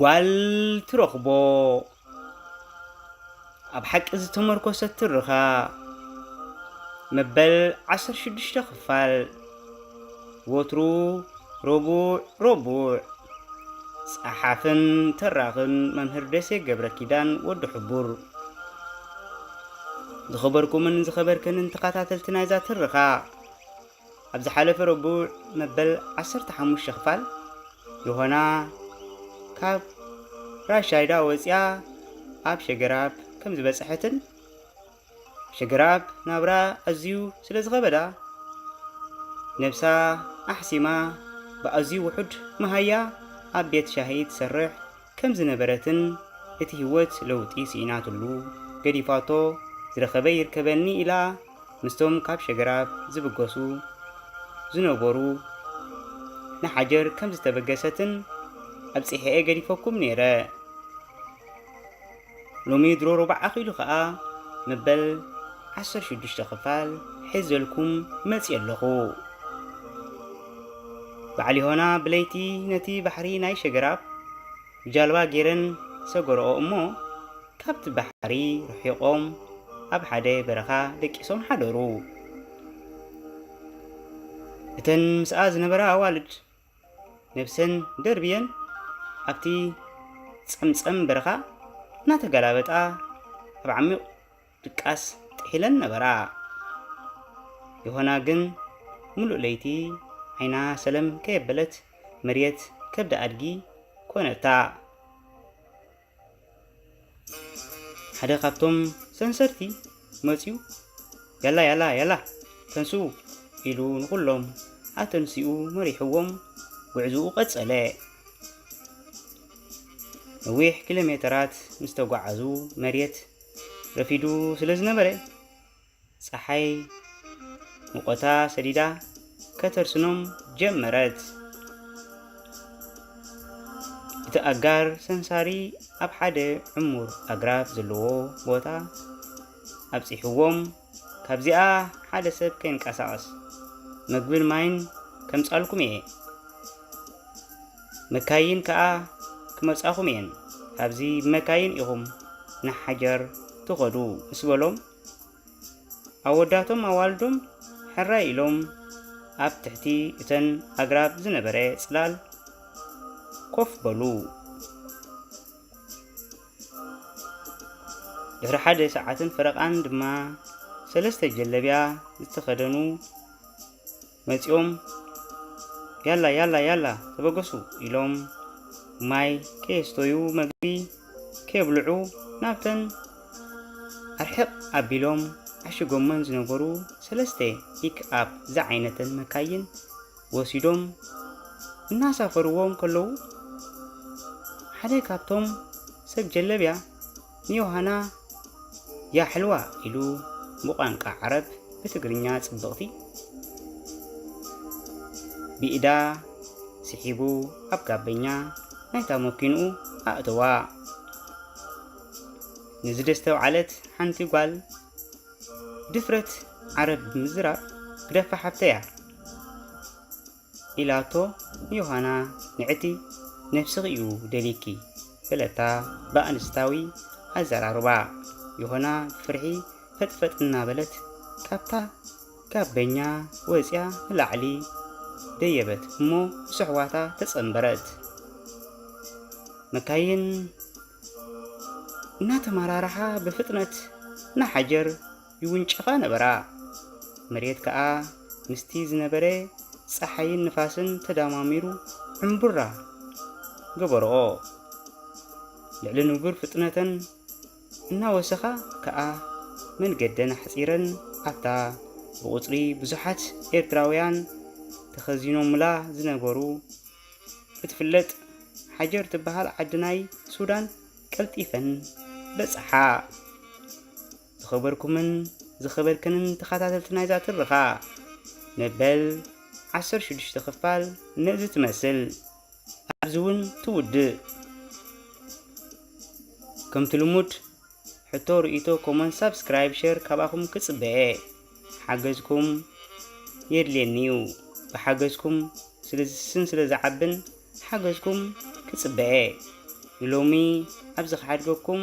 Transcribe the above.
ጓል ትረኽቦ ኣብ ሓቂ ዝተመርኮሰ ትርኻ መበል ዓሰርተ ሽዱሽተ ክፋል ወትሩ ረቡዕ ረቡዕ ጸሓፍን ተራኽን መምህር ደሴ ገብረ ኪዳን ወዲ ሕቡር ዝኸበርኩምን ዝኸበርክንን ተኸታተልቲ ናይዛ ትረኻ ኣብ ዝሓለፈ ረቡዕ መበል ዓሰርተ ሓሙሽተ ክፋል ዮሃና ካብ ራሻይዳ ወፂኣ ኣብ ሸገራብ ከም ዝበፅሐትን ሸገራብ ናብራ ኣዝዩ ስለ ዝኸበዳ ነብሳ ኣሕሲማ ብኣዝዩ ውሑድ መሃያ ኣብ ቤት ሻሂ ትሰርሕ ከም ዝነበረትን እቲ ህይወት ለውጢ ስኢናትሉ ገዲፋቶ ዝረኸበ ይርከበኒ ኢላ ምስቶም ካብ ሸግራብ ዝብገሱ ዝነበሩ ንሓጀር ከም ዝተበገሰትን ኣብጺሐ'የ ገዲፈኩም ነይረ፣ ሎሚ ድሮ ሮቡዕ ኣኺሉ ከኣ መበል ዓሰርተ ሽዱሽተ ክፋል ሒዘልኩም መጽየ ኣለኹ። በዓል ዮሃና ብለይቲ ነቲ ባሕሪ ናይ ሸገራብ ብጃልባ ገይረን ሰገርኦ እሞ ካብቲ ባሕሪ ርሒቖም ኣብ ሓደ በረኻ ደቂሶም ሓደሩ። እተን ምስኣ ዝነበራ ኣዋልድ ነብሰን ደርብየን ኣብቲ ጸምጸም በረኻ እናተገላበጣ ኣብ ዓሚቕ ድቃስ ጥሒለን ነበራ። ዮሃና ግን ምሉእ ለይቲ ዓይና ሰለም ከየበለት መርየት ከብዲ ኣድጊ ኮነታ። ሓደ ካብቶም ሰንሰርቲ መጺኡ ያላ ያላ ያላ ተንስኡ ኢሉ ንኹሎም ኣተንሲኡ መሪሕዎም ጉዕዝኡ ቀጸለ። ነዊሕ ኪሎ ሜተራት ምስ ተጓዓዙ መሬት ረፊዱ ስለ ዝነበረ ጸሓይ ሙቐታ ሰዲዳ ከተርስኖም ጀመረት። እቲ ኣጋር ሰንሳሪ ኣብ ሓደ ዕሙር ኣግራብ ዘለዎ ቦታ ኣብጺሕዎም፣ ካብዚኣ ሓደ ሰብ ከይንቀሳቐስ መግብን ማይን ከምጻልኩም እየ፣ መካይን ከኣ ክመጻኹም እየን፣ ካብዚ ብመካይን ኢኹም ንሓጀር ትኸዱ ምስ በሎም፣ ኣወዳቶም ኣዋልዶም ሕራይ ኢሎም ኣብ ትሕቲ እተን ኣግራብ ዝነበረ ጽላል ኮፍ በሉ። ድሕሪ ሓደ ሰዓትን ፈረቓን ድማ ሰለስተ ጀለብያ ዝተኸደኑ መጺኦም ያላ ያላ ያላ ተበገሱ ኢሎም ማይ ከየስተዩ መግቢ ከየብልዑ ናብተን ኣርሕቕ ኣቢሎም ዓሽጎመን ዝነበሩ ሰለስተ ፒክኣፕ ዝዓይነተን መካይን ወሲዶም እናሳፈርዎም ከለዉ ሓደ ካብቶም ሰብ ጀለብያ ንዮሃና ያ ሕልዋ ኢሉ ብቋንቃ ዓረብ ብትግርኛ ጽብቕቲ ብኢዳ ስሒቡ ኣብ ጋበኛ ናይታ መኪንኡ ኣእተዋ። ንዝደስተውዓለት ሓንቲ ጓል ድፍረት ዓረብ ብምዝራብ ግደፋ ሓብተያ ኢላቶ ዮሃና ንዕቲ ነብስኺ እዩ ደልይኪ በለታ ብኣንስታዊ ኣዘራርባ። ዮሃና ብፍርሒ ፈጥፈጥ እናበለት ካብታ ጋበኛ ወጽያ ንላዕሊ ደየበት እሞ ምስ ኣሕዋታ ተጸንበረት። መካይን እናተመራርሓ ብፍጥነት ንሓጀር ይውንጨፋ ነበራ። መሬት ከኣ ምስቲ ዝነበረ ጸሓይን ንፋስን ተዳማሚሩ ዕምቡራ ገበርኦ። ልዕሊ ንቡር ፍጥነተን እናወሰኻ ከኣ መንገደን ኣሕጺረን ኣብታ ብቑጽሪ ብዙሓት ኤርትራውያን ተኸዚኖሙላ ዝነበሩ እትፍለጥ ሓጀር ትበሃል ዓዲ ናይ ሱዳን ቀልጢፈን በጽሓ። ዝኸበርኩምን ዝኸበርክንን ተኸታተልቲ ናይዛ ትርኻ፣ መበል ዓሰርተ ሽዱሽተ ክፋል ነዚ ትመስል ኣብዚ እውን ትውድእ። ከምቲ ልሙድ ሕቶ፣ ርእይቶ፣ ኮመንት፣ ሳብስክራይብ፣ ሸር ካባኹም ክጽበየ። ሓገዝኩም የድልየኒ እዩ። ብሓገዝኩም ስለዝስስን ስለዝዓብን ሓገዝኩም ክጽበየ። ንሎሚ ኣብዚ ክሓድገኩም።